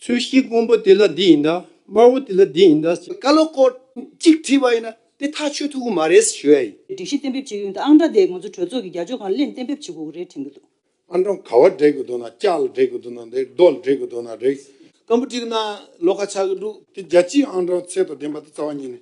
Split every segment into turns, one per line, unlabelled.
ཚུལ་ཤིང་སྔོན་པོ་དེ་ལ་འདི་ཡིན་དཱ། དམར་བོ་དེ་ལ་འདི་ཡིན་དཱ། བཀའ་སློབ་སྐོར་
གཅིག་བྲིས་པ་ཡིན་ན་དེ་ཐག་ཆོད་ཐུག་གི་མ་རེད་ཟེར་ཞུ་ཡ་ཡིན། སྒྲིག་གཞི་གཏན་འབེབས་བྱེད་ཡུན་
དང་ཨང་གྲངས་དེ་ང་ཚོ་གྲོས་ཚོགས་ཀྱི་རྒྱ་ཆོས་ཁང་གླེང་གཏན་འབེབས་བྱེད་དགོས་ཀྱི་རེད་དྲན་གྱི་འདུག། ཨང་གྲངས་ག་བ་
འབྲེག་གི་འདུག་ན་ལྕགས་ལ་འབྲེག་གི་འདུག་ན་འབྲེག་རྡོ་ལ་འབྲེག་གི་འདུག་ན་འབྲེག། སྐམ་པོ་བྲིས་གི་ན་ལོ་ཁ་ཆགས་གི་འདུག། དེ་རྒྱལ་སྤྱིའི་ཨང་གྲངས་ཚད་དང་ལྡན་པ་དེ་རྩ་བ་ཉིད་ནས་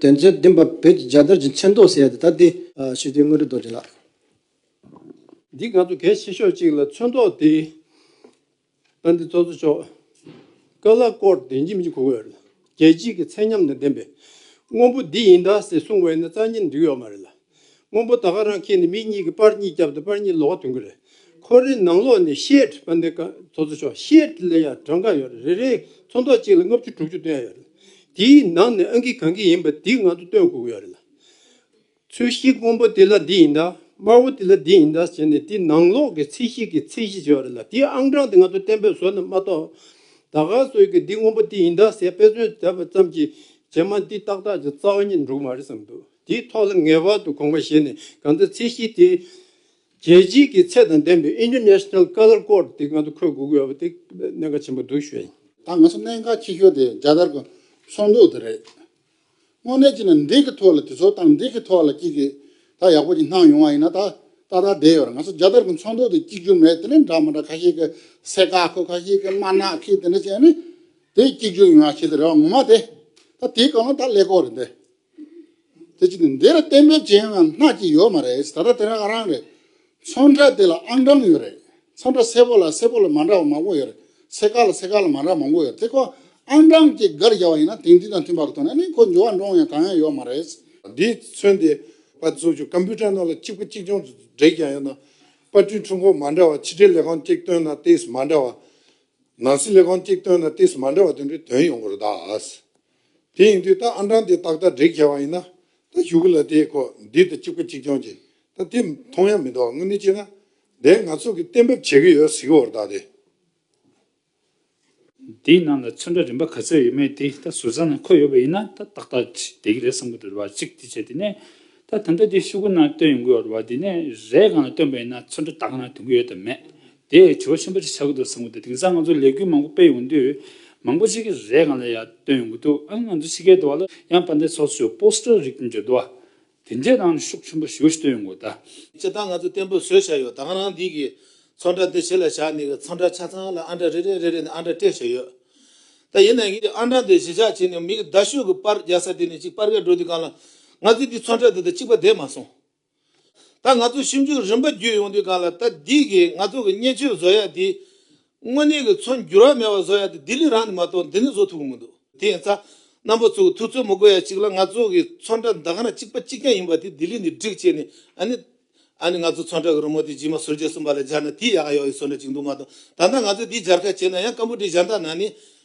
དེ་ཚེ་བདེན་པ་བོད་ཀྱི་རྒྱལ་དར་གྱི་མཚན་ཐོག་གསལ་ཏེ་ད་ལྟའི་ཞི་བདེའི་དངོས་གྲུབ་རྡོ་རྗེ་ལགས། འདི་ང་
ཚོ་གལ་ཆེ་ཤོས་ཅིག་ལ་མཚོན་ཐོག་དེ་ལྟ་འདི་ཙོ་ཙོ་ཆོག་དཀའ་ལ་ཀོར་བདེན་གྱི་མི་གོ་འོས་ལ་རྒྱལ་སྤྱིའི་གི་ཚད་མཉམ་དང་ལྡན་པའི་དངོས་པོ་འདི་ཡིན་ད་ཟེ་གསུང་བས་ན་རྩ་གཉིས་འགྲིག་ཡོག་མ་རེད་ལ། སྔོན་པོ་ད་ག་རང་ཁྱེད་ནི་མིག་གཉིས་ཀྱི་པར་གཉིས་རྒྱབ་དང་པར་གཉིས་ལོག་ག་དོན་གི་རེད་ཁོ་རེ་ནང་ལོག་ནས་ཤེད་པ་འདི་ག་ཚོ་ཚོ་ཤོག་ཤེད་ལ་ཡ་གྲངས་ག་ཡོད་རེད་རེ་རེ་ཚོ་མདོག་གཅིག་ལ་ལྔ་བཅུ་དྲུག་བཅུ་བཏོན་ཡ་ཡོད་རེད་དེའི་ནང་ནས་ཨང་ཀི་གང་གི་ཡིན་པ་དེ་ང་ཚོ་སྟོན་དགོས་གི་ཡོད་རེད་ལ། ཚོས་ཤིག་སྔོན་པོ་དེ་ལ་འདི་ཡིན་ད་དམར་བོ་དེ་ལ་འདི་ཡིན་ད་ཟེར་ནས་དེ་ནང་ལོག་གི་ཚིག་ཤིག་གི་ཚིག་གཞི་བྱོས་རེད་ལ་དེའི་ཨང་གྲངས་དེ་ང་ཚོ་གཏན་འབེབས་བཟོ་ནས་མ་གཏོགས་ད་ག་ཚོས་ཀྱི་འདི་སྔོན་པོ་དེ་ཡིན་ད་ཟེར་དཔེ་མཚོན་བྱས་པ་ཙམ་གྱིས་རྗེས་མ་འདི་ཏག་ཏག་ཅིག་རྩ་བ་ཉིད་འགྲུག་མ་རེད་བསམ་འདུག། དེའི་ཐོག་ལ་ངེས་པར་དུ་དགོངས་པ་བཞེས་ནས་གང་ལྟར་ཚད་གཞི་དེ། རྒྱལ་སྤྱིའི་གི་ཚད་དང་ལྡན་པའི International Color Code དེ་ངང་དུ་འཁོད་དགོས་ཀྱི་ཡོད་པ་དེ་གནད་འགག་ཆེན་པོ་འདུག་ཞུས། ད་ང་ཚོ་གནད་འགག་
ཆེ་ཤོས་དེ་རྒྱ་དར་གྱི་ཚོང་དུག་དེ་རེད། དངོས་གནས་ཅི་ནས་འདི་གི་ཐོག་ལ་དེ་ཚོ་དང་འདི་གི་ཐོག་ལ་གཅིག་གི་ད་ཡག་པོ་ཅིག་སྣང་ཡོང་བ་ཡིན་ན་ད་ད་ལྟ་བསྡད་ཡོད་རེད་ང་ཚོ་རྒྱ་དར་གྱི་ཚོང་དུག་དེ་གཅིག་གྱུར་མེད་དེ་ནས་འདྲ་མ་འདྲ་ཁ་ཤས་ཀྱི་སེ་ག་ཁོ་ཁ་ཤས་ཀྱི་དམར་ནག་ཁི་དེ་འདྲ་བྱས་ནས་དེ་གཅིག་གྱུར་ཡོང་བ་བྱས་དེ་རེད་བ་ངོ་མ་དེ་ད་དེའི་གང་ལ་ད་ཀླད་ཀོར་རེད་འདི། དེ་ཅི་འདིར་གཏན་འབེབས་ཅན་ཡང་སྣ་གཅིག་ཡོད་མ་རེད་ད་ལྟ་དེ་རང་རང་རེད་ཚོང་འདྲ་དེ་ལ་ཨང་གྲངས་ཡོད་རེད་ཚོང་འདྲ་སེར་པོ་ལ་སེར་པོ་ལ་མ་འདྲ་བ་མང་པོ་ཡོད་རེད་སེར་ཀ་ལ་སེར་ཀ་ལ་མ་འདྲ་མང་པོ་ཡོད་དེ་ཁོ་ཨང་གྲངས་ཀྱི་སྒར་བཞག་པ་ཡིན་ན་དེང་དུས་དང་མཐུན་པར་ཐོན་ན་ནི་ཁོ་འབྱོར་བ་འདྲོངས་ཡང་གང་ཡང་ཡོད་མ་རེད། དེས་མཚོན་ཏེ་པ་བཙུགས་ཆོག་ཀམ་པུའུ་ཏར་ནང་ལ་གཅིག་པུ་གཅིག་ཆུང་འདྲེས་ཀྱང་ཡོད་ན་པར་སྐྲུན་འཕྲུལ་འཁོར་མ་འདྲ་བ་ཕྱི་དྲིལ་ལས་ཁང་གཅིག་བཏོན་ན་ལྟས་སུ་མ་འདྲ་བ། ནང་སྲིད་ལས་ཁང་གཅིག་བཏོན་ན་ལྟས་སུ་མ་འདྲ་བ་དེ་འདྲའི་དོན་ཡོང་དགོས་རེད་ད། དེ་ཡིན་དུས་ད་ཨ་འབྲང་དེ་ཏག་ཏག་འགྲིག་ཁེལ་བ་ཡིན་ན། ད་བཞུགས་གི་ལ་དེའི་ཁོག་འདི་ད་གཅིག་པ་གཅིག་རྐྱང་གྱིས་ད་དེ་མཐོང་ཡ་མི་འདུག་དངོས་གནས་བྱས་ན། དེ་ང་ཚོ་གི་གཏན་འབེབས་བྱེད་གི་ཡོད་གཟིགས་བོར་དག་དེ།
དེའི་ནང་ལ་ཚོན་ཁྲ་རིམ་པ་ག་ཚོད་ཡོད་མེད་དེ་ད་ཟུར་ཟ་ན་ཁོ་ཡོད་པ་ཡིན་ན་ད་ཏག་ཏག་གྱིས་དེ་གི་རེད་བསམ་གི་འདུག་རེ་བ་གཅིག་དེ་བྱས་དེ་ནས། ད་ད་ལྟ་དེ་བཞུགས་གི་ནང་སྟོན་ཡོང་གི་ཡོད་རེ་བ་དེ་ནས་རས་གང་ལ་སྟོན་པ་ཡིན་ན་ཚོན་ཁྲ་ད་གང་ན་དོན་གི་ཡོད་དམ་མེད། དེས་དྲི་བ་ཆེན་པོ་གཅིག་ཆགས་ཀྱི་འདུག་བསམ་གྱི་འདུག་དེང་སང་ང་ཚོ་ལས་འགུལ་མང་པོ་སྤེལ་ཡོང་གི་འདུག་མང་པོ་ཅིག་གིས་རས་གང་ལ་ཡ་བཏོན་ཡོང་གི་འདུག་ཨང་ང་ཚོ་ཕྱི་རྒྱལ་དུ་བ་ལ་ཡང་པ་འདི་སོགས་སུ Poster རིགས་འདི་འཇོག་འདུག་ཨ། དེ་འདྲའི་ནང་ནས་ཤུགས་ཆེན་པོ་ཞུ་བ་ཞིག་བཏོན་ཡོང་དགོས་ད། སྤྱིར་བཏང་ང་ཚོ་བརྟན་པོ་
བཟོས་བཞག་ཡོད་དང་རང་འདི་གི་ཚོགས་འདྲ་འདི་བྱེད་ལ་བཞག་ནས་གི་ཚོགས་འདྲ་ཆ་ཚང་ལ་ཨ་འདྲ་རེ་རེ་རེ་རེ་ནས་ཨ་འདྲ་སྤྲད་བཞག་ཡོད་ད་ཡིན་ནའང་གི་ཨ་འདྲ་འདི་གཞི་བཞག་བྱས་ནས་མིག་གི་ཟླ་ཤོད་གི་པར་རྒྱག་ས་དེ་ནས་གཅིག་པར་རྒྱག་འགྲོ་དུས་གང་ལ་ང་ཚོའི་འདི་ཚོགས་འདྲ་འདི་དང་གཅིག་པ་བསྡད་མ་སོང། ད་ང་ཚོ་ཞིབ་འཇུག་རིམ་པ་བརྒྱུད་ཡོང་དུས་གང་ལ་ད་ལྡིག་གིས་ང་ཚོ་གི་བརྙན་ཆོས་བཟོ་ཡག་འདི། དངོས་གནས་ཀྱི་ཚོ་འགྱུར་བ་མེད་པ་བཟོ་ཡག་འདི་ལྡི་ལི་རང་ནས་མ་གཏོགས་འདི་ནས་བཟོ་ཐུབ་གི་མི་འདུག་དེ་ཡིན་ཙང། རྣམ་པ་ཚོ་གི་ཐུགས་ཚོད་མི་དགོས་ཡ་གཅིག་ལ་ང་ཚོ་གི་ཚོ་འདྲ་མདའ་ག་ན་གཅིག་པ་གཅིག་རྐྱང་ཡིན་པ་དེ་ལྡི་ལི་ནས་བསྒྲིགས་བྱས་ནས་ཨ་ནི། ཨ་ནི་ང་ཚོ་ཚོ་འདྲ་གི་རི་མོ་དེ་རྗེས་མ་ཟུར་བརྒྱད་གསུམ་པ་ལ་སྦྱར་ན་དེ་ཡག་ག་ཡོག་ཡིན་བཟོ་འདྲ་གཅིག་འདུག་མ་གཏོགས་ད་ལྟ་ང་ཚོས་དེ་སྦྱར་ཁ་བྱས་ན་ཡང་ཀམ་པོ་ཏི་གཞན་དག་ནང་ནས་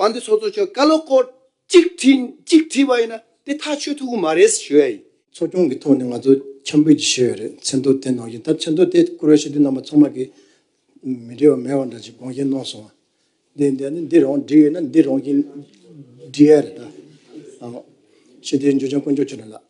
པ་འདི་ཚོགས་གཙོ་མཆོག་བཀའ་སློབ་སྐོར་གཅིག་བྲིས་པ་ཡིན་ན་དེ་ཐག་ཆོད་ཐུབ་གི་མ་རེད་ཞུ་ཡ་ཡིན། ཚོགས་ཆུང་གི་ཐོག་ནས་ང་ཚོ་འཆམ་འབུལ་གྱི་ཞུ་ཡ་རེད་མཚན་ཐོ་དེ་གནང་བཞིན་ད་མཚན་ཐོ་དེ་བསྐུར་བ་ཞུ་དུས་རྣམ་པ་ཚང་མ་གི་མི་འབྲེལ་བ་མེད་བ་འདྲ་ཅིག་དགོངས་བཞེས་གནང་སོང་བ་དེ་འདི་རང་འབྲི་ཡོད་ན་འདི་རང་གིས་འབྲི་ཡ་རེད་ད། ཞེས་དེའི་འཇུ་ཆེན་དཀོན་མཆོག་ཆོས་སྒྲོན་ལགས།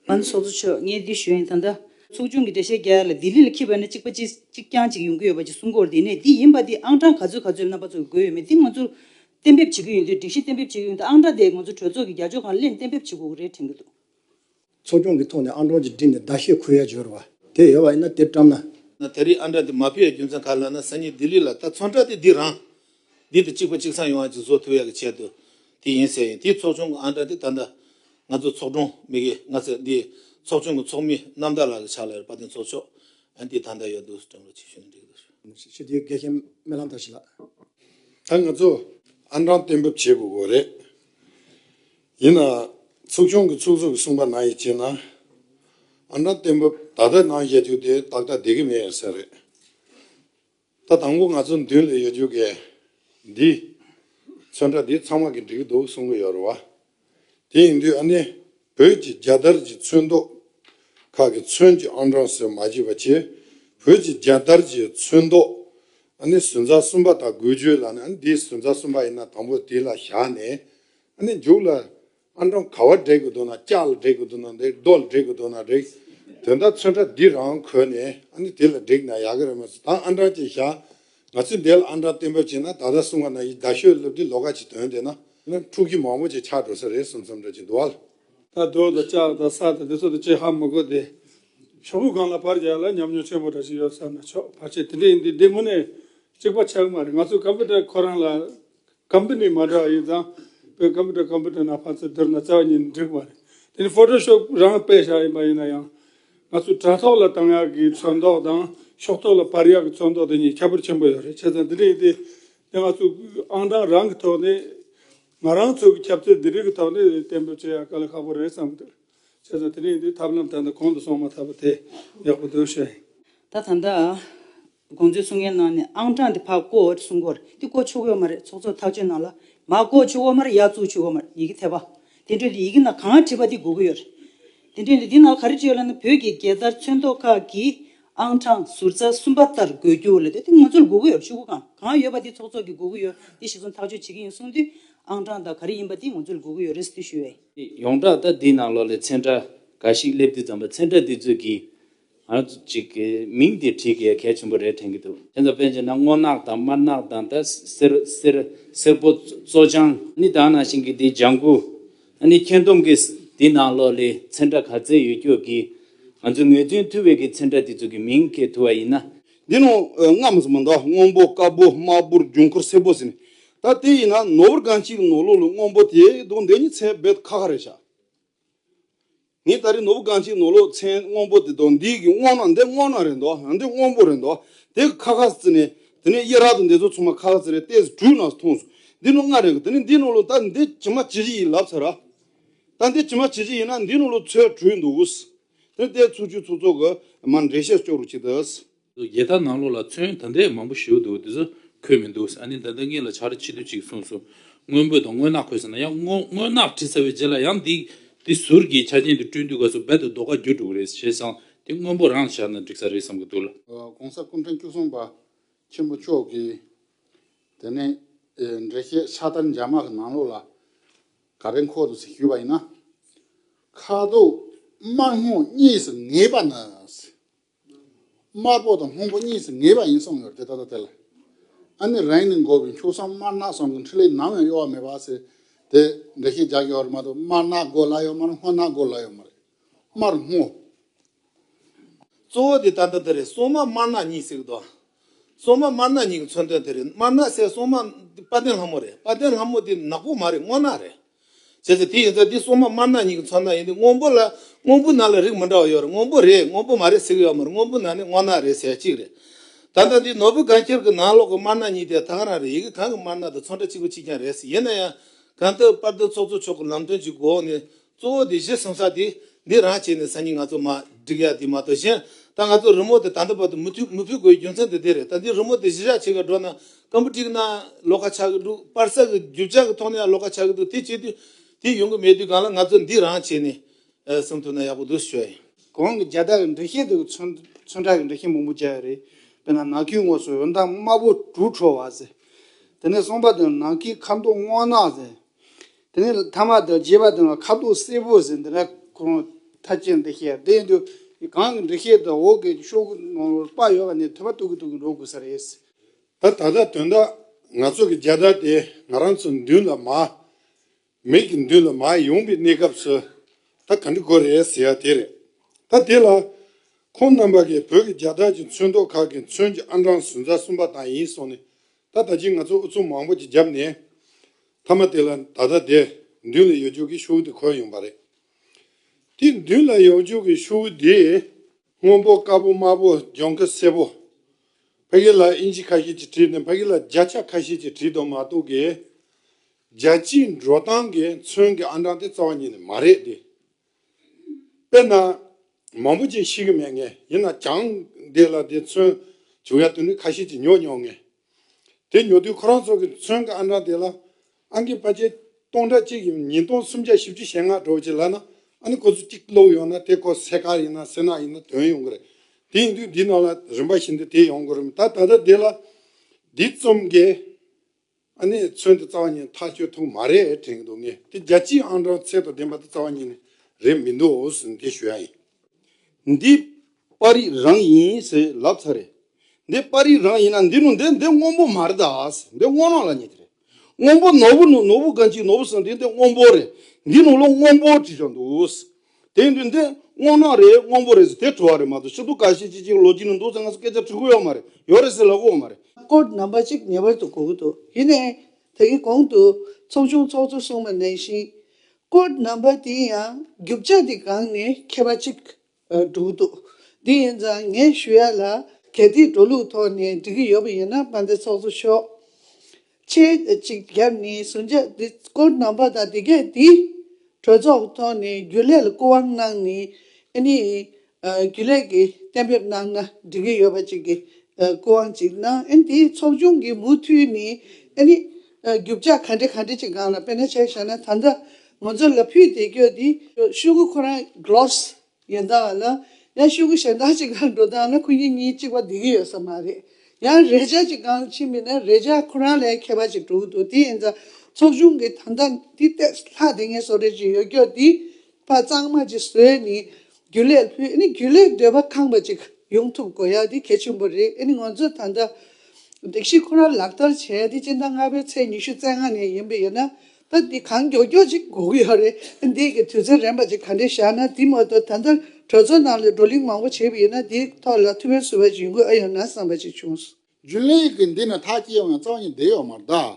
ང་ནི་སོག་ཚུ་ཆོས་ངའི་སྡེ་ཞོལ་ཡིན་ད་ལྟ། ཚོགས་ཆུང་གི་འགྲེལ་བཤད་རྒྱ་ཡིག་ལ་ལྡི་ལི་ལ་འཁྱིལ་བ་ནི་གཅིག་པ་གཅིག་གཅིག་རྐྱང་གཅིག་ཡོང་གི་ཡོད་པ་གཅིག་སྲུང་འཁོར་འདི་ནས་འདི་ཡིན་པ་འདི་ཨང་གྲངས་ག་ཚོད་ག་ཚོད་རྣམ་པ་ཚོ་གི་དགོས་ཡོད་མེད་འདི་ང་ཚོར་གཏན་འབེབས་བྱེད་ཀྱི་ཡོད་འདི་སྒྲིག་གཞི་གཏན་འབེབས་བྱེད་ཀྱི་ཡོད་འདི་ཨང་གྲངས་དེ་ང་ཚོ་གྲོས་ཚོགས་ཀྱི་རྒྱ་ཕྱོགས་གང་གླེང་གཏན་འབེབས་བྱེད་དགོས་ཀྱི་རེད་དྲན་གྱི་འདུག། ཚོགས་ཆུང་
གི་ཐོག་ནས་ཨང་གྲངས་ཅིག་བསྒྲིགས་ནས་ཟླ་ཤས་འཁོར་ཡ་འབྱོར་བ་དེ་ཡོད་བ་ཡིན་ན་དེ་བཀྲམ་ན། ད་རེས་ཨང་གྲངས་དེ་
མ་ཕུལ་ཡ་རྒྱུ་མཚན་ག་ལ་ན་ས་ཉིད་ལྡི་ལི་ལ་ད་ཚོང་གྲ་དེ་འདི་རང་འདི་དང་གཅིག་པ་གཅིག་ཚང་ཡོང་བ་གཅིག་བཟོ་ཐུབ་ཡག་གི་ཆེད་དུ་དེ་ཡིན་ཟེར་ཡིན་དེའི་ཚོགས་ཆུང་གི་ཨང་གྲངས་དེ་ད་ལྟ་ང་ཚོ་ཚོགས་དྲུང་མི་གི་ང་ཚོ་འདིའི་ཚོགས་ཆུང་གི་ཚོགས་མི་རྣམ་དག་ལགས་ཀྱི་ཕྱག་ལས་རེད་པ་དེ་ཚོགས་ཆོག་ཨ་འདི་ད་ལྟ་ཡོད་འདུག་སྤྲང་རོགས་ཆེ་ཞུ་ནས་འགྲིག་འདུག། ཞི་བདེའི་འགལ་རྐྱེན་
མེ་ལྷང་དར་ཞིག་ལགས། ད་ང་
ཚོ་ཨང་གྲངས་གཏན་འབེབས་བྱེད་དགོས་དགོས་རེད། ཡིན་ནའང་ཚོགས་ཆུང་གི་ཚོགས་གཙོ་གི་གསུངས་པ་ནང་ཡིན་ཅེ་ན། ཨང་གྲངས་གཏན་འབེབས་ད་ལྟ་ནང་བཞེས་རྒྱུ་དེ་ཏག་ཏག་བསྡད་ཀྱི་མེད་ཡིན་ས་རེད། ད་དང་པོ་ང་ཚོ་མདུན་ལ་ཡོད་རྒྱུ་གལ། འདི། ཚོན་ཁྲ་འདི་ཚང་མ་གི་འགྲིག་འདུག་གསུང་གི་ཡོད་རེད་བ། དེ་ཡིན་དུས་ཨ་ནི། བོད་ཀྱི་རྒྱ་དར་གྱི་ཚོན་མདོག། ཁག་གི་ཚོན་གྱི་ཨང་གྲངས་སོས་མ་བྱེད་པ་ཆེ། བོད་ཀྱི་རྒྱ་དར་གྱི་ཚོན་མདོག། ཨ་ནི་ཟུན་རྩ་གསུམ་པ་དག་དགོས་རྒྱུ་ལ་ནི་ཨ་ནི་འདི་ཟུན་རྩ་གསུམ་པ་ཡིན་ན་དང་པོ་དེ་ལ་བཞག་ནས། ཨ་ནི་མཇུག་ལ། ཨ་འབྲོང་ག་བ་འབྲེག་དགོས་འདུག་ན་ལྕགས་ལ་འབྲེག་དགོས་འདུག་ན་འདེགས་རྡོ་ལ་འབྲེག་དགོས་འདུག་ན་རེག། དོན་དག་ཚོན་ཁྲ་འདི་རང་གོན་ནས་ཨ་ནི་དེ་ལ་འབྲེག་ན་ཡག་གི་རེད་མ་ཟད་ད་ཨ་འབྲང་ཅིག་བཞག། ང་ཚོས་འདས་ལ་ཨ་འབྲང་གཏན་འབེབས་བྱས་ན་ད་ལྟ་གསུམ་ག་ན་ཡི་ད་ཤོད་སླེབས་དུས་ལོ་ག་ཅིག་དོན་དེ་ན། འཁྲུག་ཁྱི་མང་པོ་ཅིག་ཆགས་འགྲོ་ས་རེད་གསུམ་གསུམ་འདྲ་ཅིག་འདུག་བ། ད་རྡོ་དང་
ལྕགས་དང་ས་དང་དེ་ཚོ་དང་ཅི་ཧ་མི་དགོས་ཏེ། ཤོག་བུ་གང་ལ་བར་བརྒྱག་ལ་ཉམས་མྱོང་ཆེན་པོ་འདྲ་ཅིག་ཡོད་བསམ་ན་ཆོག་བར་ཆད་དེ་འདྲ་ཡིན་དུས་བདེ་མོ་ནས་གཅིག་པ་ཆགས་མ་རེད་ང་ཚོ་ཀམ་པུ་ཏར་ཁོ་རང་ལ་ཀམ་པུ་ནི་མ་འདྲ་བ་ཡིན་ཙང། བོད་ཀམ་པུ་ཏྲ་ཀམ་པུ་ཏྲ་ནང་བར་ཚད་བསྡུར་ན་རྩ་བ་ཉིད་འགྲིག་པ་རེད། དེ་ནི་ཕོ་ཏོ་ཤོབ་རང་སྤེལ་བྱ་ཡིན་པ་ཡིན་ན་ཡང། ང་ཚོའི་དྲ་ཐོག་ལ་དང་ཡག་གི་ཚོན་མདོག་དང་ཤོག་ཐོག་ལ་བར་ཡག་གི་ཚོན་མདོག་དེ་གཉིས་ཁྱད་པར་ཆེན་པོ་ཡོད་རེད་བྱས་ཙང་འདི་འདྲ་ཡིན་ཏེ། དེ་ང་ཚོ་ཨང་གྲངས་རང་གི་ཐོག་ནས། ང་རང་ཚོ་གི་ཁྱབ་ཚད་འདི་རིགས་ཀྱི་ཐོག་ནས་གཏན་འབེབས་བྱེད་ཡག་ག་ལ་ཁག་པོ་རེད་བསམ་འདུག་བྱས་ཙང་དེ་འདྲ་ཡིན་ཏེ་ཐབས་ལམ་ད་ལྟ་གོང་དུ་སོང་མ་ཐག་པ་དེ་ཡག་པོ་འདུག་བྱས། ད་ད་ལྟ།
དགོངས་ཚུལ་གསུང་མཁན་ནང་ནས་ཨང་གྲངས་འདི་ཕར་བཀོད་འོས་གསུང་སྐོར་འདི་བཀོད་ཆོག་གི་འོ་མ་རེད་ཚོགས་གཙོས་ཐག་གཅོད་གནང་ལ། མ་བཀོད་ཆོག་འོ་མ་རེད་ཡག་བཙུགས་ཆོག་འོ་མ་རེད་ཡི་གེ་ཐེབས་པ། དེ་འཕྲོས་འདི་ཡི་གེ་ནང་གང་བྲིས་པ་འདི་གོ་གི་ཡོད་རེད། དེ་འཕྲོས་འདི་ནང་ག་རེ་བྲིས་ཡོད་ལ་ནི་བོད་ཀྱི་རྒྱལ་དར་མཚོན་ཐོག་ཁག་གི་ཨང་གྲངས་ཟུར་རྩ་གསུམ་པ་ལྟར་འགོད་རྒྱུ་ལས་དེ་ང་ཚོར་གོ་གི་ཡོད་རེད་ཆུ་ཁུ་གང་གང་ཡོད་པ་འདི་ཚོགས་གཙོ་གིས་གོ་གི་ཡོད་འདི་གཞི་རྩ་ཐག་གཅོད་བྱེད་ཀྱི་ཡིན་གསུང་དུས། ཨང་གྲངས་དག་ག་རེ་ཡིན་པ་འདི་ང་ཚོར་གོ་གི་ཡོད་རེད་ཟེར་དུས་ཞུས་བས། ཡོངས་གྲགས་ལྟར་འདིའི་
ནང་ལོགས་ལས་ཚན་གྲ་ག་ཞིག་སླེབས་དུས་ཙམ་པ་ཚན་གྲ་འདི་ཚོད་ཀྱིས་ཨ་ཙི་ཅིག་གི་མིང་དེ་བྲིས་གི་གལ་ཆེན་པོ་རེད་དྲན་གི་འདུག། དེ་ཚོ་པན་ཆེན་ན་སྔོ་ནག་དང་དམར་ནག་དང་ད་སེར་སེར་སེར་པོ་བཙོ་སྦྱང། ནི་དང་ནང་བཞིན་གི་དེའི་ལྗང་གུ། ནི་ཁྱེད་རྡུང་གི་དེའི་ནང་ལོག་ལི་ཚེ་འདྲ་ག་ཚད་ཡོད་ཁྱོད་ཀྱིས། ང་ཚོའི་ངོས་འཛིན་ཐུ་བེ་གི་ཚེ་འདྲ་དེ་ཚོ་གི་མིང་གི་ཐུ་བ་ཡིན་ན། འདི་ནོ་རྔ་
མོ་ཟེར་མོ་འདྲ་སྔོན་པོ་དཀར་པོ་དམར་པོར་ལྗོངས་ཁུར་སེར་པོ་ཟེར་ནི་ད་དེ་ཡིན་ན་ནོར་བུར་གང་གཅིག་ནོར་ལོ་ལོ་སྔོན་པོ་དེ་དུང་དེ་གཉིས་ཚད་བེད་ཁ་ཁ་རེད་བྱ། ངས་ད་རེས་ནོར་བུ་རྐང་གཅིག་ནོར་ལོག་མཚན་སྔོན་པོ་དེ་དོ་འདི་གི་སྔོ་ན་འདི་སྔོ་ན་རེད་འདོག་འདི་སྔོན་པོ་རེད་འདོག་དེ་གི་ཁ་ཁ་བརྩི་ནས་དེ་ནས་གཡས་རག་ཏུ་འདི་ཚོ་ཚང་མ་ཁ་ཁ་བརྩི་རེད་ལྟས་དྲུག་ནང་སོ་ཐོངས་སོང་འདི་ནོར་ལྔ་རེད་གི་དེ་ནས་འདི་ནོར་ལོག་ད་འདི་ཇི་མ་ཇི་བཞིན་ཡིན་ལབ་ཚར་ར་ད་འདི་ཇི་མ་ཇི་བཞིན་ཡིན་ན་འདི་ནོར་ལོག་ཚོད་དྲུག་འདུག་དེ་ནས་ལྟས་ཚོ་བཅུ་ཚོ་ཚོ་གི་མར་འགྲེལ་བཤད་ཅོག་རོ་གཅིག་དང། རྒྱལ་དར་ནང་ལོགས་
ལ་ཚོན་ད་འདྲས་མང་པོ་བཞིའུ་འདུག་དེ་ཚོ་འཁོད་མི་འདུག་ཨ་ནི་ད་ལྟ་ངེད་ལ་བྱ་ར་ཆེ་དུས་ཅིག་གསུངས་སོང། སྔོན་པོད་དང་སྔོན་ནག་འཁོད་ཟེར་ན་ཡང་སྔོན་ནག་བྲིས་ཚར་བའི་རྗེས་ལ་ཡང་འདི་འདི་ཟུར་གྱི་ཆ་ཅན་དུ་བསྐྲུན་དུས་ག་ཚོད་རྦད་དུ་རྡོ་ཁ་བརྒྱུད་འགྲོ་གི་རེད་ཞེས་བསམ་དེ་སྔོན་པོ་རང་བཞག་ན་འགྲིག་ས་རེད་བསམ་གྱི་འདུག་ལ། གོང་ས་སྐུ་ཕྲེང་
བཅུ་གསུམ་པ་ཆེན་པོ་མཆོག་གིས་དེ་ནས་འགྲེལ་བཤད་ཕྱག་དར་འཇའ་དམག་གི་ནང་ལོགས་ལ་ག་རེ་འཁོད་འདུག་ཞུས་པ་ཡིན་ན། ཁ་དོག་དམར་སྔོ་གཉིས་སུ་ངེས་པ་ནི། དམར་པོ་དང་སྔོན་པོ་གཉིས་སུ་ངེས་པ་ཡིན་གསུངས་ཡོད་དེ་ད་ལྟ་དེ་ལ་ཨ་ནི་རང་ནི་འགོ་བའི་འཁྱུག་སྲང་དམར་ནག་ཟུང་གི་འཕྲུལ་ལས་ནམ་ཡང་གཡོ་བ་མེད་པ་ཟེར་དེ་འདྲ་ཞིག་རྒྱག་ཡོད་རེད་མ་གཏོགས་དམར་ནག་སྒོ་གླ་ཡོད་མ་རེད་སྔོ་ནག་སྒོ་གླ་ཡོད་མ་རེད་དམར་སྔོ། གཙོ་
བོ་དེ་ད་ལྟ་དེ་རེད་སྲུང་དམག་དམར་ནག་གཉིས་སྲིད་གི་འདུག་སྲུང་དམག་དམར་ནག་གཉིས་ཀྱི་མཚོན་དོན་དེ་རེད་དམར་ནག་སའི་སྲུང་དམག་དཔལ་ལྡན་ལྷ་མོ་རེད་དཔལ་ལྡན་ལྷ་མོ་དེ་ནག་པོ་མ་རེད་སྔོ་ནག་རེད། ཟེར་ཟེར་དེ་ཡིན་ཙང་དེ་སོག་མ་དམར་ནག་གཉིས་ཀྱི་མཚོ་ནག་ཡིན་དེ་སྔོན་པོ་ལ་སྔོན་པོའི་ནག་ལ་རིགས་མི་འདྲ་བ་ཡོད་རེད་སྔོན་པོ་རེད་སྔོན་པོ་མ་རེད་ཟེར་གྱི་ཡོད་མ་རེད་སྔོན་པོའི་ནག་ནི་སྔོ་ནག་རེད་ཟེར་གཅིག་རེད། ད་ལྟ་འདི་ནོར་བུ་སྒང་ཁྱེར་གྱི་ནང་ལོགས་ཀྱི་དམར་ནག་གཉིས་དེ་ཐག་རང་རེད་ཡི་གེ་གང་གི་དམར་ནག་དང་མཚོ་འདྲ་གཅིག་པ་གཅིག་རྐྱང་རེད་ཡིན་ན་ཡང། གང་ལྟར་དཔར་འདོན་ཚོགས་གཙོ་མཆོག་གི་ལམ་སྟོན་གྱི་འགོ་འོག་ནས་གཙོ་བོ་དེ་གཞི་གསུམ་ས་དེ་འདི་རང་བྱས་ནས་སང་ཉིན་ང་ཚོ་མ་བསྒྲིགས་ཡག་དེ་མ་གཏོགས་གཞན་ད་ང་ཚོ་རི་མོ་དེ་ད་ལྟ་བར་དུ་མི་མཐུད་མི་ཕུད་དགོས་རྒྱུ་མཚན་དེ་དེ་རེད་ད་འདི་རི་མོ་དེ་གཞི་བཞག་བྱེད་ག་འགྲོ་ན་སྐམ་པོ་བཀྲིགས་ན་ལོག་ཁ་ཆགས་ཀྱི་འདུག་པར་ས་གི་རྒྱུ་ཆ་གི་ཐོག་ནས་ཡང་ལོག་ཁ་ཆགས་ཀྱི་འདུག་དེ་བྱེད་དུས་དེ་ཡོང་གི་མེད་དུས་གང་ལ་ང་ཚོ་འདི་རང་བྱས་ནས་གསུང་ཐུབ་ན་ཡག་པོ་འདུག་ཞོའི། གོང་གི་རྒྱ་སྟག་གི་
འདྲེ་ཤིང་དེ་གི་ཚོན་ཚོན་ཁྲག་གི་འདྲེ་ཤིང་མང་པོ་བརྒྱབ་ཡོད་རེད་དཔེར་ན་ནགས་ཁྱུའི་ངོས་སུ་འོད་མདངས་དམར་པོ་དྲུག་འཕྲོ་བ་ཟེར། དེ་ནས་གསུམ་པ་དེ་ནི་ནགས་ཁྱུའི་ཁ་མདོག་སྔོ་ནག་ཟེར། དེ་ནས་མཐའ་མ་དང་བརྒྱད་པ་དེ་ནི་ཁ་མདོག་སེར་པོ་ཟེར་འདི་འདྲ་ཁོ་རང་ཐ་ཆད་འདི་ཤེས་རེད་དེ་ཡིན་དུས་གངས་ཀྱི་འདྲེ་ཤིང་དང་འོག་གི་ཤོག་བུ་ནང་པར་ཡོད་པ་ནས་ཐོད་པ་གཏུག་གི་གཏུག་གི་འགྲོ་དགོས་ས་རེད། ད་ད་ལྟ་
དོན་དག་ང་ཚོ་གི་རྒྱལ་དར་དེ་ང་རང་ཚོ་མདུན་ལ་མ། མིག་གི་མདུན་ལ་མ་ཡོང་པའི་གནས་སྐབས་སུ་ད་ག་འདྲི་དགོས་རེད་ཟེར་ཡ་དེ་རེད། ད་དེ་ལ། ཁོང་རྣམ་པ་གིས་བོད་ཀྱི་རྒྱལ་དར་གྱི་མཚོན་ཐོག་ཁག་གི་མཚོན་གྱི་ཨང་གྲངས་ཟུར་ཟ་གསུམ་པ་དང་ཡིན་སོང་ནས་ད་ད་ཅིག་ང་ཚོ་ཨུ་ཚུགས་མང་པོ་ཅིག་བརྒྱབ་ནས། མཐའ་མ་དེ་ལ་ད་ད་དེ་མདུན་ལ་ཡོད་རྒྱུགས་ཀྱི་ཤོའུ་དེ་འཁོད་ཡོང་པ་རེད། དེ་མདུན་ལ་ཡོང་རྒྱུགས་ཀྱི་ཤོའུ་དེ། སྔོན་པོ་དཀར་པོ་དམར་པོ་ལྗང་ཁུ་སེར་པོ། ཕ་གི་ལ་ཨིན་ཇི་ཁ་ཤས་ཀྱིས་བྲིས་ཏེ་ཕ་གི་ལ་བརྒྱ་ཆ་ཁ་ཤས་ཀྱིས་བྲིས་འདུག་མ་གཏོགས་གི། རྒྱལ་སྤྱིའི་འགྲོ་སྟངས་ཀྱིས་མཚོན་གྱི་ཨ་འབྲང་དེ་རྩ་བ་ཉིད་ནས་མ་རེད་དེ། དཔེར་ན། མང་པོ་ཅིག་ཤེས་ཀྱི་མེད་ངེས་ཡིན་ན་བྱང་འདི་ལ་དེ་མཚོན་བྱུང་ཡ་དུ་འདྲི་ཁ་ཤས་ཀྱིས་ཉོ་མྱོང་ངེས། དེ་ཉོ་དུས་ཁོ་རང་ཚོ་གི་མཚོན་གི་ཨ་མྲ་དེ་ལ་ཨང་ཀི་པ་ཆེ་སྟོང་ཕྲག་གཅིག་གིས་ཉིན་སྟོང་སུམ་བརྒྱ་བཞི་བཅུ་ཞེ་ལྔ་འགྲོ་བྱེད་ལ་ན་ཨ་ནི་ཁོ་ཚོ་གཅིག་བསླུགས་ཡོང་ན་དེ་ཁོ་སེ་ཁ་ཡིན་ན་སེ་ནག་ཡིན་ན་དོན་ཡོང་གི་རེད་དེ་ཡིན་དུས་འདི་ནང་ལ་རིམ་པ་བཞིན་དུ་དེ་ཡོང་གི་རུང་ད་ད་ལྟ་དེ་ལ་འདི་རྩོམ་གི་ཨ་ནི་མཚོན་དུ་རྩ་བ་ཉིད་ཐག་ཆོད་ཐུག་མ་རེད་དྲན་གི་འདུག་ངས་དེ་རྒྱ་སྤྱིའི་ཨང་གྲངས་ཚད་དུ་ལྡན་པ་དེ་རྩ་བ་ཉིད་ནི་རེད་མི་འདུག་འོ་ཟིན་དེ་ཞུ་ཡ་ཡིན། འདི་པར་རིས་རང་ཡིན་ཟེར་ལབ་ཚར་རེད། འདི་པར་རིས་རང་ཡིན་ན་འདི་ནུ་འདི་འདི་སྔོན་པོ་མ་རེད་ད་འདི་སྔོ་ནག་ལ་ཉེ་དེ་རེད། སྔོན་པོ་ནོར་བུ་ནུ་ནོར་བུ་གང་ཅིག་ནོར་བུ་སོགས་འདི་འདི་སྔོན་པོ་རེད། འདི་ནུ་ལོ་སྔོན་པོ་བྲིས་ཀྱང་འདུག། དེ་འདྲས་འདི་སྔོ་ནག་རེད་སྔོན་པོ་རེད་ཟེར་དེ་བྲོ་བ་རེད་མ་གཏོགས་ཤིན་ཏུ་ག་ཤེད་ཅིག་ཅིག་ལོ་རྒྱུས་ནི་འདུག་ཟེར་ང་ཚོ་སྐད་ཆ་དྲི་གོ་ཡོད་མ་རེད་ཡོད་རེད་ཟེར་ལབ་གོ་མ་རེད། སྐོར་རྣམ་པ་གཅིག་
ངེས་པར་དུ་གོ་གི་འདུག་དེ་ནས་དེའི་གོང་དུ་ཚོགས་ཆུང་ཚོགས་གཙོ་གསུམ་མ་ནན་ཞིང། སྐོར་རྣམ་པ་དེ་ཡང་རྒྱུ་ཆ་དེ་སྒང་ནས་ཁྱེར་བ་ཅིག་འདུག་འདུག་དེ་ཡིན་ཙང་ངས་ཞུ་ཡ་ལ་གལ་ཏེ་འགྲོ་ལུགས་ཐོག་ནས་འགྲིག་གི་ཡོད་པ་ཡིན་ན་པ་འདི་ཚོགས་གཙོ་མཆོག་ཆེ་གཅིག་རྒྱབ་ནས་ཟུར་འཇགས་འདི་སྐོར་རྣམ་པ་དང་དེ་གས་དེ་གྲོས་ཚོགས་ཐོག་ནས་རྒྱུ་ལས་ལ་སྐུ་དབང་གནང་ནས་ཨ་ནི་རྒྱུན་ལས་ཀྱིས་གཏན་འབེབས་གནང་ན་འགྲིག་གི་ཡོད་པ་ཅིག་གི་སྐུ་དབང་ཅིག་གནང་ཨེ་འདི་ཚོགས་ཆུང་གི་མུ་མཐུད་ནི་ཨེ་ནི། རྒྱུ་བཅག་ག་འདྲེ་ག་འདྲེ་ཅིག་སྒང་ལ་དཔེ་ན་ཆ་ཤ་ན་ད་ལྟ་ང་ཚོ་ལ་ཕུད་དེ་ཁྱོད་འདི་ཤོད་གི་ཁོ་རང Gloss ཡོན་ཏང་ལ་ཡང་ཤོད་གི་གཞན་དག་ཅིག་ལ་འགྲོ་སྟངས་ལ་ཁོ་གཉིས་གཉིས་གཅིག་པ་བསྡད་གི་ཡོད་ས་མ་རེད་ཡང་རེ་བཅག་ཅིག་སྒང་ལ་ཕྱིན་མི་ན་རེ་བཅག་ཁོ་རང་ལས་མཁས་པ་ཅིག་འགྲོ་གི་འདུག་དེ་ཡིན་ཙང་ཚོགས་ཆུང་གི་ད་ལྟ་འདི་ལྟས་ལྷག་དེ་ངས་བཟོ་རེ་ཅིག་ཡོད་ཁྱོད་འདི། པ་གཙང་མ་ཅིག་བཟོས་ནས་རྒྱུ་ལས་ལྷོད་ནས་རྒྱུ་ལས་སྡོད་པ་ཁང་པ་ཅིག་ཡོང་ཐུབ་དགོས་ཡ་དེ་གལ་ཆེན་པོ་རེད་ནི་ང་ཚོས་ད་ལྟ་སྒྲིག་གཞི་ཁོ་ར་ལག་བསྟར་བྱས་དེ་སྤྱི་ཟླ་ལྔ་པའི་ཚེས་ཉི་ཤུ་རྩེ་ལྔ་ནས་ཡིན་པས་ཡིན་ན་ད་དེ་གང་མགྱོགས་མགྱོགས་ཅིག་དགོས་ཀྱི་ཡོད་རེད་འདས་ཀྱི་དུས་ཚོད་རན་པ་ཅིག་ག་འདྲས་བཞག་ན་དེ་མ་གཏོགས་ད་ལྟ་གྲོས་ཚོགས་ནང་ལས་བགྲོ་གླིང་མང་པོ་བྱས་པས་ཡིན་ན་དེའི་ཐོག་ལ་ཐུགས་ཕན་གསོས་པ་ཞིག་ཡོང་དགོས་ཨ་ཡོད་ན་བསམ་པ་ཅིག་བྱུང། རྒྱུ་ལས་ཀྱི་འདི་
ནི་ཐག་སྐྱེ་ཡོང་ཡང་གཙང་ཡིན་བདེ་ཡོད་མ་གཏོགས།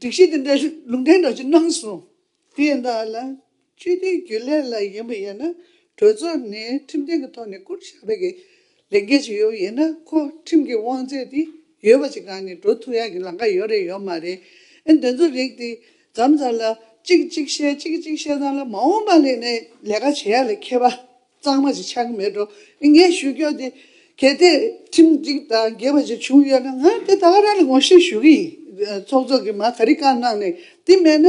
སྒྲིག་གཞི་དེ་འདྲའི་ལུང་འདྲེན་འདྲ་ཅིག་གནང་སོང། དེ་ཡིན་དག་ལ། ཆོས་དོན་རྒྱུན་ལས་ལ་ཡིན་པ་ཡིན་ན་གྲོས་ཚོགས་ནས་ཁྲིམས་གཏན་གྱི་ཐོག་ནས་བསྐུར་བཞག་བོད་ཀྱི་ལས་འགན་ཞིག་ཡོད་ཡིན་ན་ཁོ་ཁྲིམས་ཀྱི་དབང་ཚད་དེ་ཡོད་པ་ཅིག་གང་ནས་འགྲོ་ཐུབ་ཡག་གི་ལམ་ཁ་ཡོད་རེད་ཡོད་མ་རེད་ཨེ་འདི་ཚོ་རིགས་དེ་འཛམ་བཟང་ལ་གཅིག་གཅིག་བཤད་གཅིག་གཅིག་བཤད་ཚང་ལ་མ་འོངས་པ་ལས་ནས་ལས་ཀ་བྱེད་ཡག་ལས་མཁས་པ་གཙང་མ་ཞིག་ཆགས་ཀྱི་མེད་འགྲོ་ངས་ཞུ་རྒྱུ་འདི་གལ་ཏེ་ཁྲིམས་གཅིག་དང་འགལ་བ་ཞིག་བྱུང་ཡོད་ན་ང་དེ་ད་ག་རང་ལ་ངོ་ཤེས་ཞུ་གི་ཡིན་ཚོགས་གཙོ་གི་མ་ག་རི་གང་གནང་ནས་དེ་མེད་ན་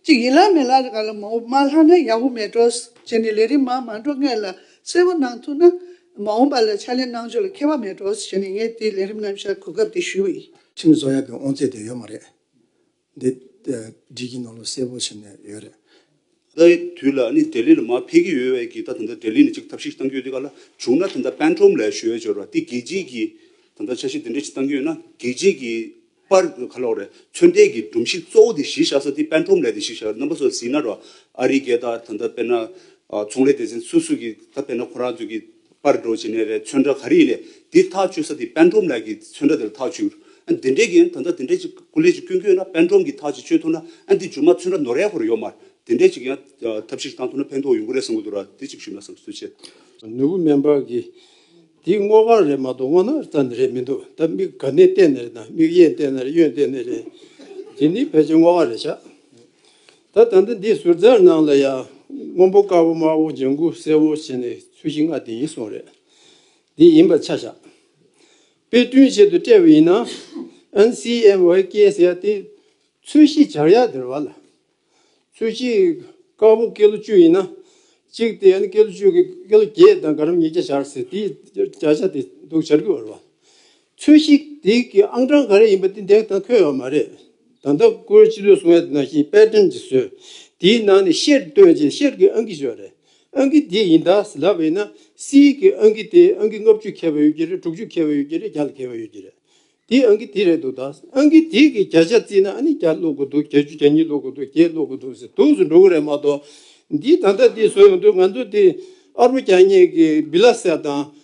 ཅིག་ཡིན་ལགས་མེད་ལགས་ག་ལ་མ་འོངས་མ་ལྷག་ན་ཡག་པོ་མེད་འགྲོ་བྱས་ནས་ལས་རིམ་མ་མ་འགྲོ་སྔས་ལ་གསལ་བོ་གནང་ཐུབ་ན་མ་འོངས་པ་ལ་ཕྱག་ལས་གནང་ཕྱོགས་ལ་ཁེ་བ་མེད་འགྲོ་བྱས་ནས་ངས་དེ་ལས་རིམ་རྣམ་བཞག་གོ་སྐབས་དེ་ཞུ་ཡི། ཁྲིམས་བཟོ་ཡག་གི་དབང་
ཚད་དེ་ཡོད་མ་རེད། འདི་སྒྲིག་གི་ནང་ལོ་གསལ་པོ་བྱས་ནས་ཡོད་རེད། ད་ལྟའི་
དུས་ལ་ནི་དྲེལ་ལི་ལ་མ་ཕེབས་ཀྱི་ཡོད་བས་ཀྱི་ད་དེ་འདྲ་དྲེལ་ལི་ནི་གཅིག་ཐབས་ཤིག་གཏང་རྒྱུ་ཡོད་དེ་ག་ལ་བྱུང་ན་དེ་འདྲ་པན་ཁྲོམ་ལས་ཞོལ་ཅོལ་བ་དེ་རྒྱལ་སྤྱིའི་གི་ད་འདྲ་འཆར་གཞི་དེ་འདྲ་ཞིག་གཏང་རྒྱུ་ཡོད་ན་རྒྱལ་སྤྱིའི་གི་པར་ཁ་ལོག་རེད་ཚོད་འདས་གི་སྒྲོམ་གཞི་གཙོ་བོ་དེ་གཞི་བཞག་ས་དེ་པན་ཁྲོམ་ལས་དེ་གཞི་བཞག་རེད་རྣམ་པ་སོ་ཟིན་ན་རོ་ཨ་རི་རྒྱལ་དག་ད་འདྲ་དཔེར་ན་ཚོང་ལས་སྡེ་ཚན་སུ་སུ་གི་ད་དཔེར་ན་ཁོ་རང་ཚོས་གི། པར་འགྲོ་བྱས་ནས་རས་མཚོན་འདྲ་ག་རེ་ཡིན་ལས་དེ་ཐག་ཆོད་ས་དེ་པད་འབྲོམ་ལགས་ཀྱིས་མཚོན་འདྲ་དེར་ཐག་ཆོད། དེ་འདྲའི་གན་ད་ད་དེ་འདྲའི་ཅིག་སྐུ་ལས་ཅིག་སྐྱོན་ཁྱོད་ན་པད་འབྲོམ་གྱིས་ཐག་ཅིག་གཅོད་ཐུབ་ན་འདི་ཇོ་མ་མཚོན་འདྲ་ནོར་རས་ཁོར་ཡོད་མར་དེ་འདྲའི་ཅིག་ཡང་ཐབས་ཤེས་ཤིག་བཏང་ཐུབ་ན་ཕན་ཐོག་ཡོང་གི་རེད་བསམ་གི་འདུག་ར་དེ་ཅིག་ཞུས་ན་བསམ་སོད་བྱས། ནོར་བུ་སྨན་པ་
གིས། དེ་སྔོ་གང་རེད་མ་གཏོགས་སྔོ་ནག་ཙམ་ནི་རེད་མི་འདུག་ད་མིག་ག་ནས་བལྟས་ནས་རེད་དང་མིག་གཡས་བལྟས་ནས་རེད་གཡོན་བལྟས་ནས་རེད། དེ་ནི་ཕལ་ཆེར་སྔོ་གང་རེད་ཤག། ད་ད་ལྟ་འདིའི་ཟུར་ཟའི་ནང་ལ་ཡང་སྔོན་པོ་དཀར་པོ་དམར་པོ་ལྗང་གུ་སེར་བོ་ཞེས་ནས་ཚུལ་བཞི་ལྔ་དེ་ཡིན་སོང་རེད། འདི་ཡིན་པར་ཆ་བཞག་དཔེ་སྐྲུན་བྱེད་དུ་སྤྲད་པ་ཡིན་ན། NCMYK ཟེར་ཡ་དེ་ཚུལ་བཞི་བྱར་ཡ་དེར་བ་ལ། ཚུལ་བཞི་དཀར་པོ་ཀེ་ལོ་བཅུ་ཡིན་ན། གཅིག་དེ་ཀེ་ལོ་བཅུ་ཀེ་ལོ་བརྒྱད་དང་དགའ་རམ་ཉིས་བརྒྱ་བྱར་ཟེར་དེའི་བརྒྱ་ཆ་དེ་འདུག་བྱར་གི་བར་བ། ཚོས་གཞིག་དེ་གི་ཨང་གྲངས་ག་རེ་ཡིན་པ་དེ་འདེགས་དང་འཁོད་ཡོད་མ་རེད། ད་ལྟ་སྐོར་ཕྱི་ལོའི་གསུམ་ཡར་ནང་བཞིན་དཔལ་ལྡན་གྱི་ཟོལ་དེའི་ནང་ནས་ཤེར་བཏོན་ཅན་ཤེར་གྱི་ཨང་ཀི་ཞོ་རེད། ཨང་ཀི་དེ་ཡིན་དྭ་ཟི་ལ་བས་ན་སིའི་གི་ཨང་ཀི་དེ་ཨང་ཀི་ལྔ་བཅུ་ཁེལ་བ་ཡོད་ཀྱི་རེད་དྲུག་ཅུ་ཁེལ་བ་ཡོད་ཀྱི་རེད་བརྒྱ་ལ་ཁེལ་བ་ཡོད་ཀྱི་རེད། དེ་ཨང་ཀི་དེ་རེད་འདུག་ད་ཨང་ཀི་དེ་གི་བརྒྱ་ཆ་བརྩིས་ན་ཨ་ནི་བརྒྱ་ལོག་གི་འདུག་བརྒྱ་བཅུ་བརྒྱ་གཉིས་ལོག་གི་འདུག་བརྒྱད་ལོག་གི་འདུག་ཟེར་དུག་སུ་འགྲོ་གི་རེད་མ་གཏོགས་འདིའི་ད་ལྟ་དེ་བཟོ་ཡོང་དུས་ང་ཚོ་དེ་ཨ་རོ་བརྒྱ་སྙེད་ཀྱི་སྦི་ལ་སེར་དང་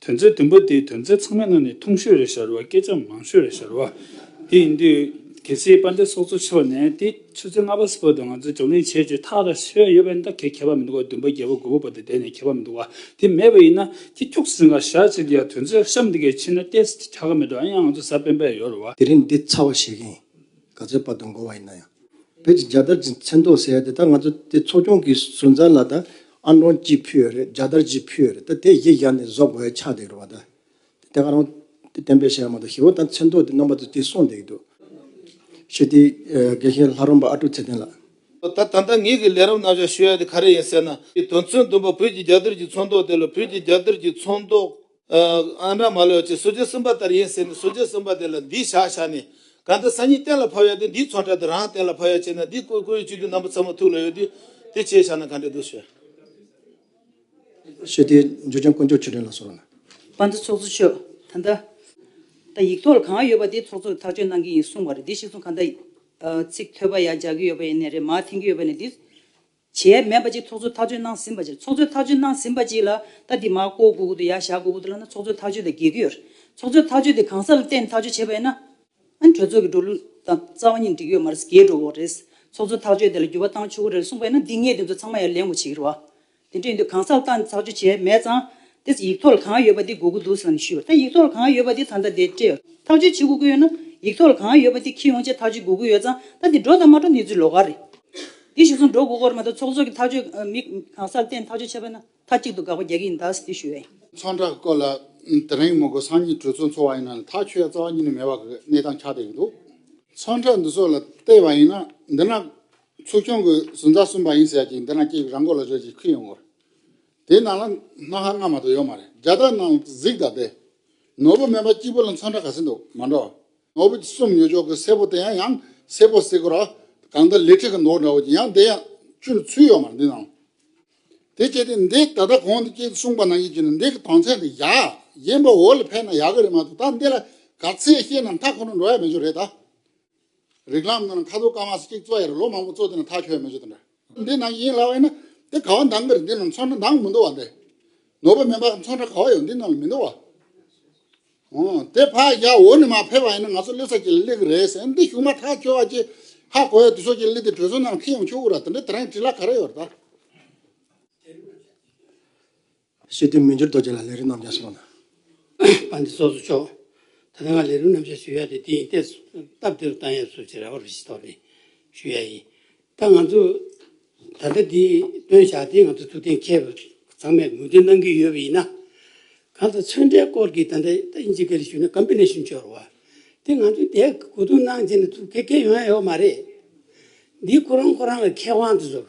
དོན་ཚན་བདུན་པ་དེའི་དོན་ཚན་ཚང་མའི་ནང་ནས་ཐུང་ཤོས་རེ་བཞར་བ་སྐད་ཆ་མང་ཤོས་རེ་བཞར་བ་དེ་ཡིན་དུས། གལ་སྲིད་དཔལ་ལྡན་སོགས་གཙོ་ཆེ་བ་ནས་དེ་ཆུ་ཚོད་ལྔ་པ་སུ་བོད་དུ་ང་ཚོས་བགྲོ་གླེང་བྱེད་ཅེས་ཐག་ར་ཤོད་ཡོད་པའི་འདའ་གལ་ཁྱད་པར་མི་འདུག་བ་བདུན་པ་བརྒྱད་པ་དགུ་བ་བ་དེ་དེ་ནས་ཁྱད་པར་མི་འདུག་བ་དེ་མེད་པ་ཡིན་ན་དེ་ཁྱུག་ཟིན་ག་བཞར་བྱེད་དེ་ཡང་དོན་ཚོད་གཤམ་འདི་གའི་ཕྱི་ན་ཏེ་སི་ཏི་ཁྱ་ག་མེད་འགྲོ་ཨ་ཡང་ང་ཚོ་ས་པན་པའི་ཡོར་བ། དེ་རིང་འདི་ཚར་བ་བྱེད་
མཁན་ག་ཚོད་དཔར་དུ་འགོ་བ་ཡིན་ན་ཡང་བོད་ཀྱི་རྒྱལ་དར་གྱི་མཚན་ཐོག་ཟེར་ཡ་དེ་དག་ང་ཚོ་དེ་ཚོགས་ཆུང་གིས་སུན་ཙང་ལ་དང་ཨ་འབྲོང་གཅིག་ཕུལ་རེད་རྒྱ་དར་གཅིག་ཕུལ་རེད་ད་དེ་གཞི་བཞག་ནས་བཟོ་དགོས་ཡ་ཆགས་འདེགས་རོགས་ད། དེ་ག་རང་བསྟན་པའི་ཞལ་མ་འདུག་ཧེ་བོ་ད་མཚན་ཐོག་དེ་རྣམ་པ་ཚོ་དེ་སོང་འདེགས་འདུག། ཞི་བདེའི་དགེ་བཤེས་ལྷ་རོང་པ་ཨ་ཀྲུག་ཚེ་བརྟན་ལགས། ད་ད་ལྟ་
ངེད་ཀྱིས་ལས་རབ་རྣམ་གཞག་ཞུ་ཡ་དེ་ག་རེ་ཡིན་ཟེར་ན། དོན་ཚོད་འདུན་པ་བོད་ཀྱི་རྒྱ་དར་གྱི་ཚོང་ཟློག་དེ་ལ་བོད་ཀྱི་རྒྱ་དར་གྱི་ཚོང་ཟློག། ཨ་འདྲ་མ་ལོས་ཀྱི་སོ་རྗེ་གསུམ་པ་ལྟར་ཡིན་ཟེར་ནས་སོ་རྗེ་གསུམ་པ་དེ་ལ་འདིས་བཞག་བཞག་ནས་གང་ལྟར་སང་ཉིན་གཏན་ལ་ཕབ་ཡོད་དུས་འདིས་ཚོགས་གྲལ་དུ་རང་གཏན་ལ་ཕབ་ཡོད་བྱས་ན་འདིས་བཀོད་བཀོད་ཡོད་བཅུད་བསྡུས་རྣམ་པ་ཚང་མ་ཐུགས་ལ་ཡོད་དུས་དེ་བྱས་བཞག་ན་གང་འདྲའི་དུས་ཤོད། ཞེས་
དེའི་འཇུག་ཅན་དཀོན་མཆོག་ཆོས་སྒྲོན་ལ་གསོལ་བ། བ་འདི་
ཚོགས་གཙོ་ཆོས་ད་ལྟ་ད་ཡིག་ཐོག་ལ་གང་ཡོད་པ་དེ་ཚོགས་གཙོ་ཐག་གཅོད་གནང་གི་ཡིན་གསུངས་བར་འདི་ཞིག་ཚོང་གང་ད་ཚིག་ཐོས་པ་ཡ་རྒྱག་གི་ཡོད་པ་ཡིན་ནས་རེད་མ་འཐེན་གི་ཡོད་པ་ནས་འདི། བྱས་མེད་པ་གཅིག་ཚོགས་གཙོས་ཐག་གཅོད་གནང་ཟིན་པ་ཅིག་ཚོགས་གཙོས་ཐག་གཅོད་གནང་ཟིན་པ་ཅིག་ལ་ད་དེ་མ་བསྐོ་དགོས་ཀྱི་འདུག་ཡ་བཞག་དགོས་ཀྱི་འདུག་ལབ་ན་ཚོགས་གཙོས་ཐག་གཅོད་དང་འགལ་གྱི་ཡོད། ཚོགས་གཙོས་ཐག་གཅོད་དེ་གང་ཟག་ལ་བརྟེན་ནས་ཐག་གཅོད་བྱས་པ་ཡིན་ན། གྲོས་ཚོགས་ཀྱི་འགྲོ་ལུགས་དང་རྩ་བ་གཉིས་འགྲིག་ཡོད་མ་རེད་འགལ་འགྲོ་འོག་རེད། ཚོགས་གཙོས་ཐག་གཅོད་དེ་ལ་འགྱུར་བ་བཏང་ཆོག་གི་རེད་གསུངས་པ་ཡིན་ན་འདི་ངས་དེ་ཚོ་ཚང་མ་ཡར་ལེན་དགོས་བྱེད་ཀྱི་རེད། དེ་འདྲ་ཡིན་དུས་གང་ཟག་ལ་བརྟེན་ནས་ཐག་གཅོད་བྱས་མེད་ཙང། དེས་ཡིག་ཐོག་ལ་གང་ཡོད་པ་དེ་སྒུག་གི་འདུག་ཟེར་ནས་ཞུས་པར་ད་ཡིག་ཐོག་ལ་གང་ཡོད་པ་དེ་ད་ལྟ་དེ་སྤྲད་ཐག་གཅོད་བྱེད་དགོས་ཀྱི་ཡོད་ན། ཡིག་ཐོག་ལ་གང་ཡོད་པ་དེ་ཁྱི་ཡོང་ཆེད་ཐག་གཅོད་སྒུག་གི་ཡོད་ཙང་ད་དེ་འགྲོ་དང་མ་འགྲོ་གནས་ཚུལ་ལོག་ག་རེད། དེ་བཞུགས་སོང་འགྲོ་སྒུག་གོ་རེ་མ་གཏོགས་ཚོགས་གཙོ་གི་ཐག་གཅོད་མི་གང་སར་བསྟན་ཐག་གཅོད་བྱས་པ་ན་མཐའ་གཅིག་ཏུ་དགག་པ་རྒྱག་གི་ཡིན་ད་ཟེར་དུས་ཞུས་བས། ཚོགས་འདྲ་སྐོར་ལ་
དེ་རིང་མོ་སྒོ་སངས་ཉིན་གྲོས་ཚོགས་འཚོགས་བ་ཡིན་ན་ཐག་ཆོད་རྩ་བ་ཉིད་ནས་མེད་པ་གི་གནས་སྟངས་ཆགས་བསྡད་ཀྱི་འདུག་ཚོགས་འདྲ་འདི་ཚོ་ལ་བལྟས་པ་ཡིན་ན་འདི་ན་ཚོགས་ཆུང་གི་ཟུར་མཛའ་གསུམ་པ་ཡིན་ཟེར་ཡ་གཅིག་འདི་ན་གཅིག་རང་མགོ་ལ་བཟོས་ཀྱི་ཁུར་ཡོང་གི་རེད། དེའི་ནང་ལ་སྣ་ཁ་སྔ་མ་དང་ཡོད་མ་རེད་རྒྱ་སྟག་ནང་ལ་གཟིག་ད་དེ། ནོར་བུ་སྨན་པ་སྐྱིད་པོ་ལ་མཚམས་འདྲ་ག་ཚོད་འདུག་མ་འགྲོ། ནོར་བུ་གསུམ་ཉོས་ཆོག་གི་སེར་པོ་དེ་ཡང་ཡང་སེར་པོ་བསྲེག་གོ་ར། གང་ལྟར་ལི་ཁྲི་གི་ནོར་འདྲ་བོ་ཅིག་ཡང་དེ་ཡང་བཅུར་ཚུད་ཡོད་མ་རེད་འདི་ནང་ལ། དེ་སྐྱེས་ཏེ་འདི་ད་ལྟ་གོང་དུ་སྐྱེས་གསུངས་པ་ནང་ཡིད་ཀྱི་ནི་འདི་གི་དོན་ཚད་འདི་ཡ། གཞན་པ་འོ་ལ་ཕན་ན་ཡག་གི་རེད་མ་གཏོགས་ད་འདི་ལ་ག་ཚད་བཤད་ན་མཐའ་ཁོ་ན་འགྲོ་ཡ་མེད་ཅོ་རེད་ད། རིགས་ལམ་ནང་ཁ་ཐུག་ཀ་མ་གཅིག་གཙོ་ཡར་ལོ་མང་པོ་གཙོ་དེ་ནི་ཐག་ཆོད་མི་བྱེད་དང་འདྲ། འདི་ནང་ཡིན་ལ་བས་ན་དེ་ག་བ་འདང་གིར་འདི་ནང་མཚོན་ན་འདང་མི་འདུག་བ་འདི་ནོར་བུ་མིན་པ་མཚོན་ན་ག་བ་ཡོད་འདི་ནང་ལ་མི་འདུག་བ། ཨོ་དེ་ཕ་ཡ་འོ་ནི་མ་ཕེབས་པ་ཡིན་ན་ང་ཚོ་གླེ་ས་ཀྱི་གླེ་གི་རེད་ཟེར་འདི་གཞུག་མ་ཐག་ཁྱོད་བ་ཅི་ཧ་གོ་ཡ་དུས་སོ་ཀྱི་གླེ་དེ་གྲོས་ཚོགས་ནང་ཁྲིད་ཡོང་ཆོག་གུ་ར་དེ་འདྲ་དེ་རང་གི་དྲི་ལ་ག་རེ་ཡོད་ར་ད།
ཞེས་བསྟན་མི་འགྱུར་རྡོ་རྗེ་ལ་ལས་རིམ་རྣམ་བཞག་གསུངས། པ་འདི་
སོགས་སུ་ཕྱོགས། ད་ལྟ་ང་ལས་རིམ་རྣམ་བཞག་ཞུ་ཡ་དེ་འདི་ཡིན་ཏེ། སྟབས་བདེ་རུ་བཏང་ཡབ་སོགས་ཀྱི་རེ་བ་རུ་ཞིག་དོར་ནས་ཞུ་ཡ་ཡིན། ད་ང་ཚོ། ད་ལྟ་འདི་སྟོན་བཞག་དེ་ང་ཚོ་ཐུགས་གཏན་འཁེལ་བ་ཚང་མས་ངོས་འཛིན་གནང་གི་ཡོད་པ་ཡིན་ན། གང་དུ་ཚོན་འབྲས་སྐོར་གྱི་ད་ལྟ་ཨིན་ཇི་གལ་ཞུས་ན་ཀམ་པི་ནེ་ཤིན་འཆོར་བ། དེ་ང་ཚོས་དེ་གོ་བསྡུར་གནང་རྗེས་ནས་ཐུགས་འཁེལ་ཡོང་ཡ་ཡོད་མ་རེད། འདི་ཁོ་རང་ཁོ་རང་གི་ཁེ་དབང་དུ་བཟུར།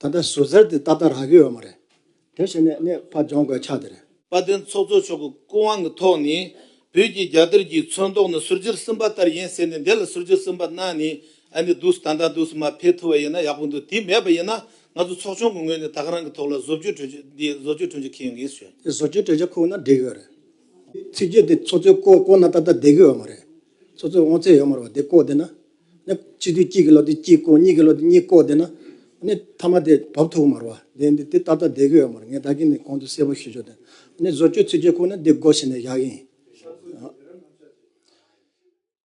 ད་ལྟ་ཟུར་ཟེར་དེ་ཏག་ཏག་རང་གི་ཡོད་མ་རེད། དེ་བྱས་ནས་གནས་སྤར་སྦྱོང་དགོས་ཆགས་དེ་རེད། དཔའ་བརྟན་ཚོགས་གཙོ་མཆོག་
གི་སྐུ་དབང་གི་ཐོག་ནས་བོད་ཀྱི་རྒྱལ་དར་གྱི་མཚོན་མདོག་ནི་ཟུར་འཇིར་སིམ་པ་ལྟར་ཡིན་ཟེར་ནས་འདི་ལ་ཟུར་འཇིར་སིམ་པ་གནང་ནས་ཨ་ནི་འདུག་ད་ལྟ་འདུག་སིམ་པ་འཕེལ་ཐུབ་པ་ཡིན་ན་ཡག་པོ་འདུག་དེ་མེད་པ་ཡིན་ན་ང་ཚོ་ཚོགས་ཆུང་གི་ངོས་ནས་ད་ག་རང་གི་ཐོག་ལ་བཟོ་བཅོས་གྲོས་ཆོད་འདི་བཟོ་བཅོས་གྲོས་ཆོད་འཁེལ་ཡོང་གི་ཡིན་ཟེར། དེ་བཟོ་བཅོས་གྲོས་ཆོད་ཁུག་ན་
འགྲིག་གི་ཡོད་རེད། ཚིག་བརྗོད་དེ་ཚོགས་གཙོའི་བསྐོ་བསྐོ་ན་ད་ལྟ་བསྡད་ཀྱི་ཡོད་མ་རེད། ཚོགས་གཙོས་དབང་ཚད་ཡོད་མ་རེད་བ་དེ་བསྐོ་བསྡད་ན་གཅིག་དུས་གཅིག་གི་ལོ་དུས་གཅིག་བསྐོ་གཉིས་ཀྱི་ལོ་དུས་གཉིས་བསྐོ་དེ་ན་ནི་མཐའ་མ་དེ་བབས་ཐུག་མར་བ་དེ་འདི་ད་ལྟ་བསྡད་གི་ཡོད་མ་རེད་ངས་ད་གིན་ནས་གོང་དུ་གསལ་པོ་ཞུ་ཆོག་དེ་ནི་བཟོ་བཅོས་ཚིག་བརྗོད་ཁུག་ནི་འདི་བསྒོ་ཟེར་ནས་བཞག་གིན།